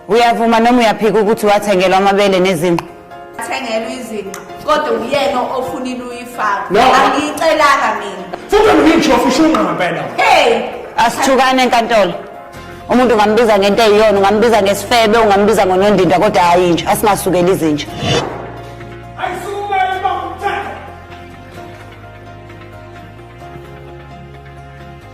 uyavuma noma uyaphika ukuthi wathengelwa amabele nezinqa athengelwa izinqa kodwa uyena ofunile uyifaka No. angiyicelanga mina futhi ngisho ufisha ungqampela hey asithukane enkantolo umuntu ungambiza ngento eyiyona ungambiza ngesifebe ungambiza ngonondindwa kodwa hhayi inja asingasukeli izinja ayisukumele bamthatha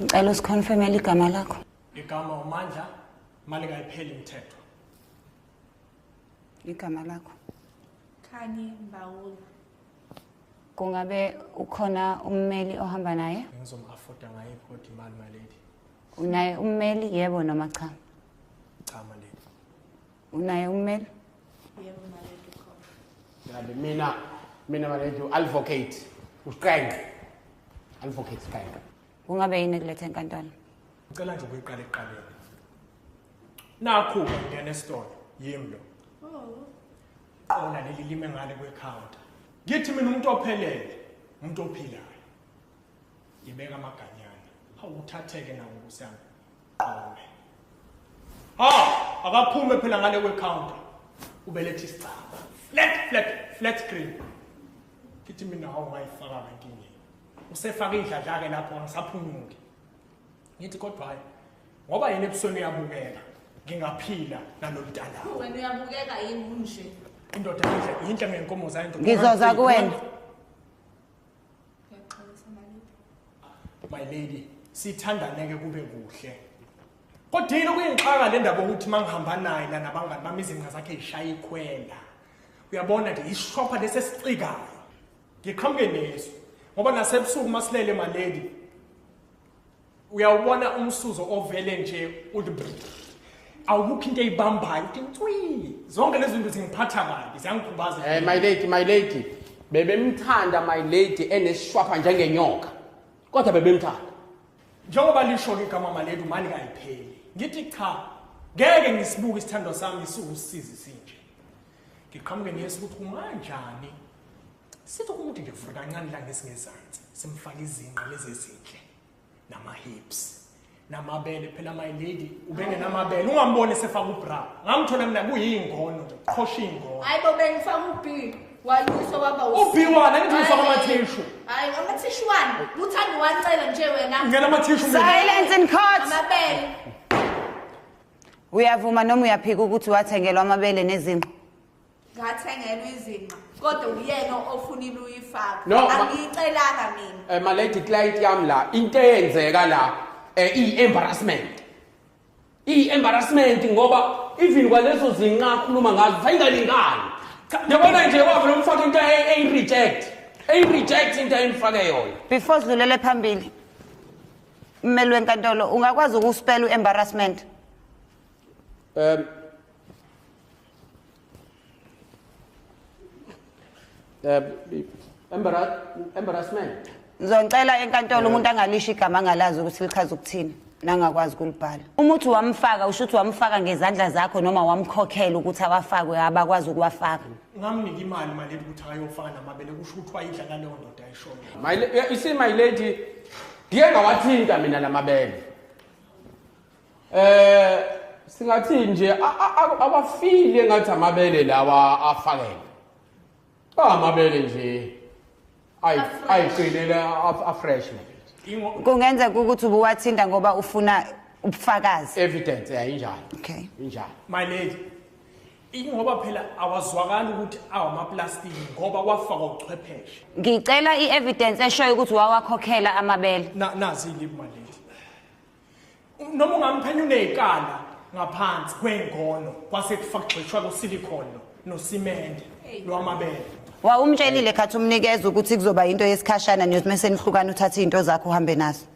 ngicela usikhonfemele igama lakho igama umandla imali kayipheli mthetho igama lakho khanye mbawula kungabe ukhona ummeli ohamba naye ngizomu-afoda ngayo iphodi imali maledi unaye ummeli yebo noma cha cha maledi unaye ummeli yebo maledu khona yabe mina mina maledu advocate usiqenge advocate siqenge kungabe yini kulethe enkantolo ngicela nje ukuyiqala ekuqaleni nakhu ngena esitolo yimi lo qona leli lime ngale kwecounter ngithi mina umuntu ophelele umuntu ophilayo Ngibeka amaganyana. Hawu uthatheke nawo kusami. Qome. Ha, akaphume phela ngale we counter. Ubelethe isicaba. Flat flat flat screen. Kithi mina hawu ngayifaka nkingi. Usefaka indladla ke lapho ngisaphunyuke. Ngithi kodwa hayi ngoba yena ebusweni uyabukeka ngingaphila naloludala. Wena uyabukeka yini unje? Indoda yinhle yinhle ngenkomo zayo indoda. Ngizoza kuwena. Ngiyaxolisa maliphi. My lady, sithandaneke kube kuhle. Kodwa yini okuyinxaka le ndaba ukuthi mangihamba naye la nabangani bami izinqa zakhe zishaya ikhwela. Uyabona nje ishopha lesi esicikayo. Ngiqhamuke neso ngoba nasebusuku masilele my lady uyawubona umsuzo ovele nje uthi awukho into eyibambayo uthi ntwii zonke lezi zinto zingiphatha kabi ziyangikhubaza Eh my lady, my lady. Bebemthanda my lady eneshwapha njengenyoka. Kodwa bebemthanda. njengoba lisho ke igama maledi umani kayipheli ngithi cha ngeke ngisibuke isithandwa sami siwusizi sinje ngiqhamuke niyesa ukuthi umanjani sithi umuntu nje vula kancane la ngesingezansi simfake izinqa lezi ezinhle nama hips namabele phela my lady ubengenamabele ungamboni sefaka ubra ngamthola mina kuyingono qhosha ingono hayi bo bengifaka ubhi wayuso waba ubhi wona ngithi ngifaka amathishu hayi amathishu wani uthanda uwancela nje wena ngena amathishu silence in court amabele uyavuma noma uyaphika ukuthi wathengelwa amabele nezinqo ngathengelwa izinqa kodwa uyena ofunile uyifaka No, ma- angiyicelanga mina Eh malady client yami la into eyenzeka la eh i embarrassment. I embarrassment ngoba even kwalezo zinqa akhuluma ngazo sayingalingani. Cha yabona nje wavela umfaka into ey reject. Ey reject into ayimfake yona. before sidlulele phambili mmeli wenkantolo ungakwazi ukuspela u-embarrassment Um Eh, embarrassment ngizocela enkantolo umuntu angalisho igama angalazi ukuthi lichaza ukuthini nangakwazi kulibhala uma uthi wamfaka usho ukuthi wamfaka ngezandla zakho noma wamkhokhela ukuthi awafakwe abakwazi ukuwafaka ngamnika imali mali ukuthi ayofaka namabele kusho ukuthi wayidla naleyo ndoda ayishoyo you see my lady ndiye ngawathinta mina namabele eh singathi nje abafile ngathi amabele lawa afakele amabele nje ayiqinele afresh kungenzeka ukuthi ubuwathinta ngoba ufuna ubufakazi evidence yayinjalo okay injalo my lady ingoba phela awazwakali ukuthi awamaplastiki ngoba kwafakwa uchwepheshe ngicela i-evidence eshoyo ukuthi wawakhokhela amabele nazi yini my lady noma ungamphenya uney'kala ngaphansi kwey'ngono kwase kufagxishwa kusilikhono nosimende lwamabele wa umtshelile khathi umnikeza ukuthi kuzoba yinto yesikhashana nje mese nihlukana uthathe izinto zakho uhambe nazo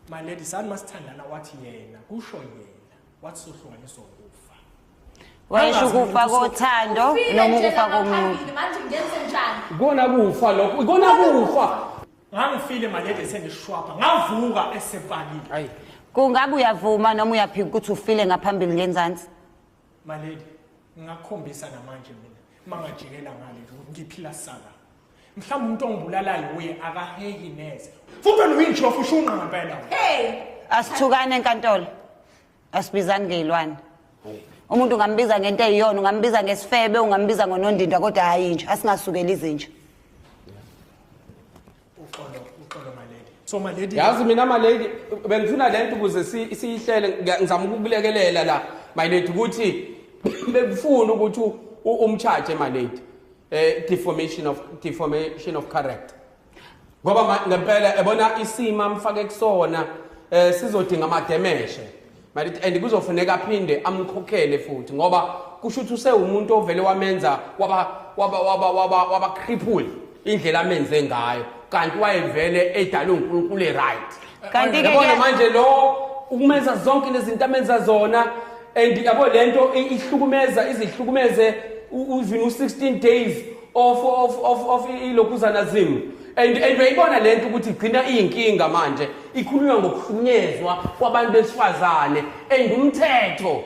my lady sani masithandana wathi yena kusho yena wathi sohlukaniswa ukufa wayesho ukufa kothando noma ukufa komuntu manje ngenze njani kona kufa lokho kona kufa ngangifile malede sengishwapha ngavuka esepakile hayi kungabe uyavuma noma uyaphika ukuthi ufile ngaphambili ngenzansi malede ngingakhombisa namanje mina mangajikela ngale ngiphila sala mhlawumbe umuntu ongibulalayo uye akahehi neze futhi wena uyintshofu ushunqa ngempela hey asithukane enkantolo asibizani ngeyilwane umuntu ungambiza ngento eyiyona ungambiza ngesifebe ungambiza ngonondindwa kodwa hhayi nje asingasukeli izinja so malady yazi mina malady bengifuna le nto ukuze si- siyihlele ngiya- ngizama ukukulekelela la my lady ukuthi bekufuna ukuthi u- u- umcharge malady eh deformation of deformation of character ngoba ma- ngempela ebona isimo amfake kusona eh sizodinga amademeshe malithi and kuzofuneka aphinde amkhokhele futhi ngoba kusho ukuthi usewumuntu ovele wamenza waba waba waba waba waba cripple indlela amenze ngayo kanti wayevele edalwe uNkulunkulu eright Kanti ke yabona kuya- manje lo ukumenza zonke lezinto amenza zona and yabo lento i- ihlukumeza izihlukumeze u- even u 16 days of of of of ilokhuzana zimu and and uyayibona lento ukuthi igcina iyinkinga manje ikhulunywa ngokuhlunyezwa kwabantu besifazane and umthetho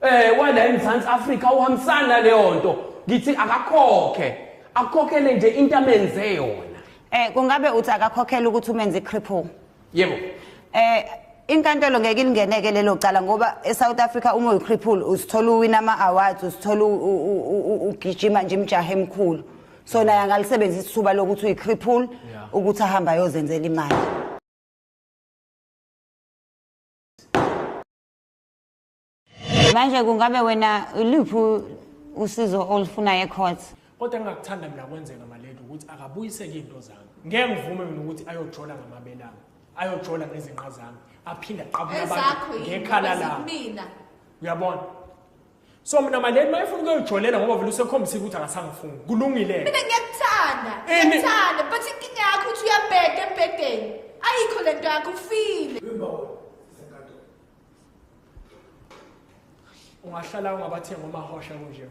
eh wala eMzansi Africa uhambisana naleyo nto ngithi akakhokhe akhokhele nje into amenze yona eh kungabe uthi akakhokhela ukuthi umenze cripple yebo eh inkantolo ngeke ilingeneke lelo cala ngoba eSouth Africa uma uyicripple usithola uwina ama awards usithola ugijima nje imjahe emkhulu so naye angalisebenzisa ithuba lokuthi uyicripple ukuthi ahamba ayozenzela imali manje kungabe wena iluphi usizo olufunayo ecourt kodwa engakuthanda mina kwenzeka maledi ukuthi akabuyiseke izinto zami ngeke ngivume mina ukuthi ayojola ngamabelami ayojola ngezinqa zami aphinde aqabule abantu ngekhala lami uyabona so mina maledi mayefuna ukuyojolela ngoba vele usekhombisile ukuthi akasangifuni kulungile mina ngiyakuthanda ngiyakuthanda but inkinga yakho ukuthi uyabheda embhedeni ayikho le nto yakho ufile ungahlala ungabathenga omahosha kunje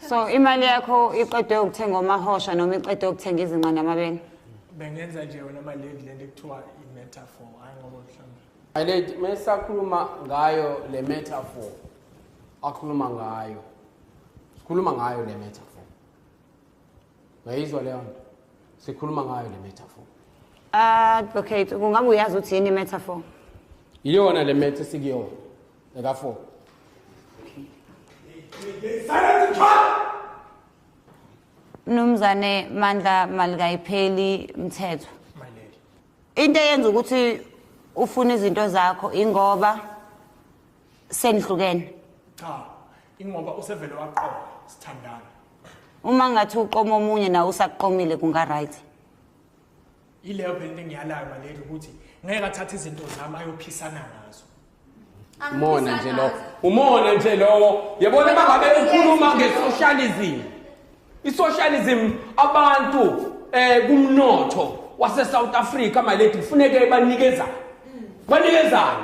so imali yakho iqedwe ukuthenga omahosha noma iqedwe ukuthenga izinqa namabele bengenza nje wena mali lady lento ekuthiwa i-metaphor hayi ngoba mhlawumbe my lady mesakhuluma ngayo le metaphor akhuluma ngayo sikhuluma ngayo le metaphor Ngayizwa leyo nto. Sikhuluma ngayo le metaphor. Advocate, kungabe uyazi ukuthi yini metaphor? Iyona le meta sikuyona. Eka 4. Silence child. Mnumzane Mandla malikayipheli mthetho. My lady. Into eyenza ukuthi ufuna izinto zakho ingoba senihlukene cha ingoba usevele waqola sithandana uma ngathi uqoma omunye nawe usaqomile kunga right ileyo phela into engiyalayo maleli ukuthi ngeke athathe izinto zami ayophisana ngazo umona nje lowo umona nje lowo yabona uma ngabe ukhuluma nge-socialism i-socialism abantu um kumnotho wase-south africa maledi kufuneke banikezane banikezane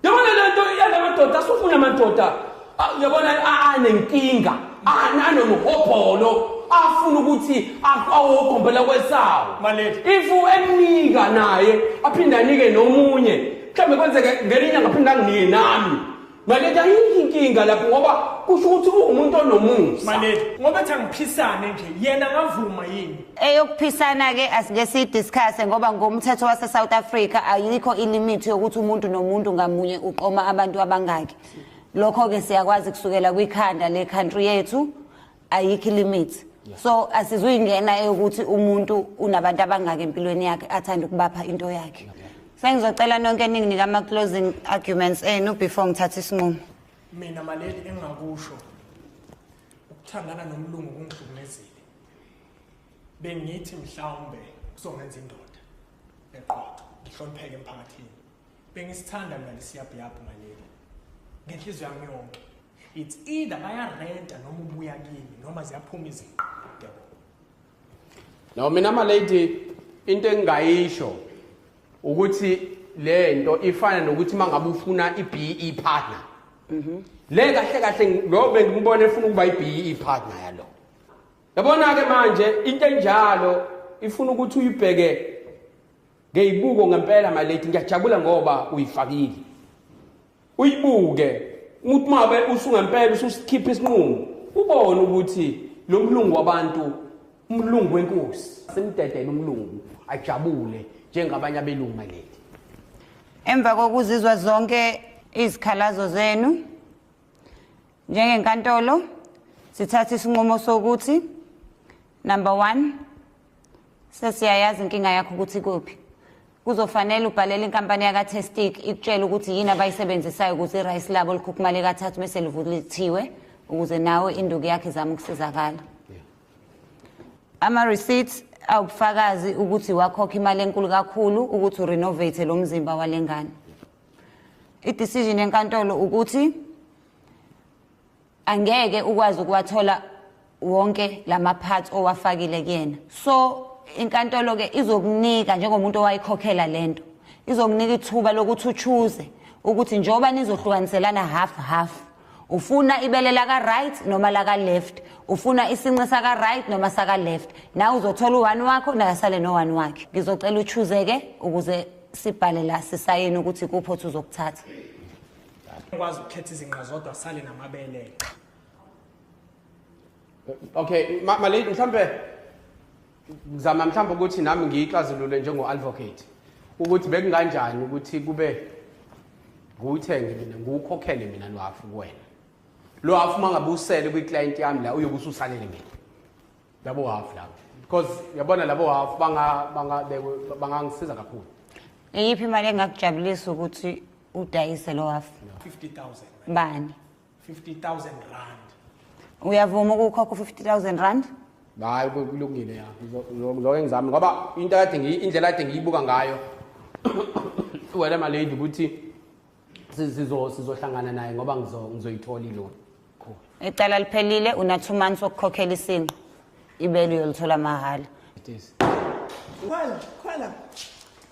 Yabona le nto iyala madoda asufuna madoda ah, yabona anenkinga anomuhobholo afuna ukuthi awogombela kwesawo if emnika naye aphinde anike nomunye mhlawumbe kwenzeke ngelinye inyanga aphinde anginike nami Maledi ayikho inkinga lapho ngoba kusho ukuthi uwumuntu onomusa. Maledi ngoba ethi angiphisane nje yena ngavuma yini? eyokuphisana ke asike sidiscusse ngoba ngomthetho wase South Africa ayikho ilimit yokuthi umuntu nomuntu ngamunye uqoma abantu abangaki lokho ke siyakwazi kusukela kwikhanda le country yethu ayikho ilimit so asizuyingena eyokuthi umuntu unabantu abangaki empilweni yakhe athanda ukubapha into yakhe sengizocela nonke eningi nikama closing arguments enu before ngithathe isinqumo mina maleli engakusho ukuthandana nomlungu kungihlukumezile bengithi mhlawumbe kuzongenza indoda eqotho ngihlonipheke emphakathini bengisithanda mina lesiyabhiyabhu ngaleli ngenhliziyo yami yonke it's either bayarenta noma ubuya kimi noma ziyaphuma izinqa yabo no mina malady into engingayisho ukuthi le nto ifana nokuthi uma ngabe ufuna i-be partner mhm. le kahle kahle lo bengimbona efuna ukuba i-be partner yalo Yabona-ke manje into enjalo ifuna ukuthi uyibheke ngeyibuko ngempela maleti ngiyajabula ngoba uyifakile uyibuke umuntu mabe usungempela ususikhipha isinqumo ubone ukuthi lo mlungu wabantu umlungu wenkosi simdedele umlungu ajabule njengabanye abelungu maleti emva kokuzizwa zonke izikhalazo zenu Njengenkantolo sithatha isinqumo sokuthi number 1 sesiyayazi inkinga yakho ukuthi kuphi. Kuzofanele ubhalele inkampani yaka Testic ikutshela ukuthi yini abayisebenzisayo ukuze rice labo likhukhumale kathathu bese livulithiwe ukuze nawe induku yakhe izama ukusizakala. Ama receipts awubufakazi ukuthi wakhokha imali enkulu kakhulu ukuthi urenovate lo mzimba walengane. I-decision yenkantolo ukuthi angeke ukwazi ukuwathola wonke lama parts owafakile kuyena so inkantolo ke izokunika njengomuntu owayikhokhela lento izokunika ithuba lokuthi uchuze ukuthi njengoba nizohlukaniselana half half ufuna ibele laka right noma laka left ufuna isinqe saka right noma saka left nawe uzothola u1 wakho naye asale no1 wakhe ngizocela uchuze ke ukuze sibhale la sisayini ukuthi kuphi othi uzokuthatha ukwazi ukukhetha izinqa zodwa sale namabele cha okay malady mhlambe ngizama mhlambe ukuthi nami ngiyixazulule njengo-advocate ukuthi bekunganjani ukuthi kube ngiwuthenge mina ngiwukhokhele mina lwafu kuwena lwafu uma ngabe usele kwiclient yami la uyobe ususalele mina labo half labo because yabona labo half banga banga bangangisiza kakhulu iyiphi imali engakujabulisa ukuthi udayise lo half 50000 bani 50000 rand uyavuma ukukhokha u-50000 rand hayi kulungile ya ngizokhe ngizame ngoba into kade indlela kade ngiyibuka ngayo wena malady ukuthi sizohlangana naye ngoba ngizoyithola ilona icala liphelile una two months wokukhokhela isinqo ibele uyolithola mahhala khwela khwela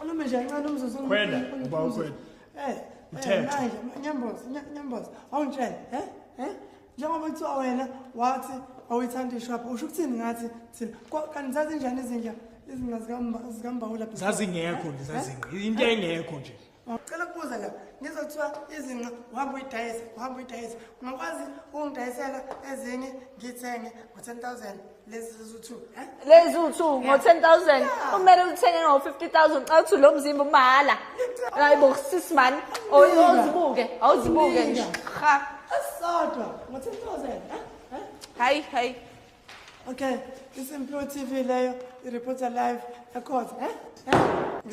ulume nje kancane umzuzu khwela uba ukhwela eh, eh mthetho nyamboza nyamboza awungitshela eh eh njengoba kuthiwa wena wathi awuyithanda ishopha usho ukuthini ngathi thina kanti zazinjani izinja izinga zikambawula zazingekho nje eh? zazingqi into engekho nje ngicela ukubuza la ngizwa kuthiwa izinqa uhamba uyidayisa uhamba uyidayisa ungakwazi ukungidayisela ezinye ngithenge ngo-ten thousand lezi ziwu-two lezi ziwu-two ngo-ten thousand kumele uthenge ngo-fifty thousand xa kuthi lo mzimba umahhala hayi bo sis mani awuzibuke awuzibuke nje ha asodwa ngo-ten thousand hayi hayi okay isimpilo tv leyo iripota live ekhotha um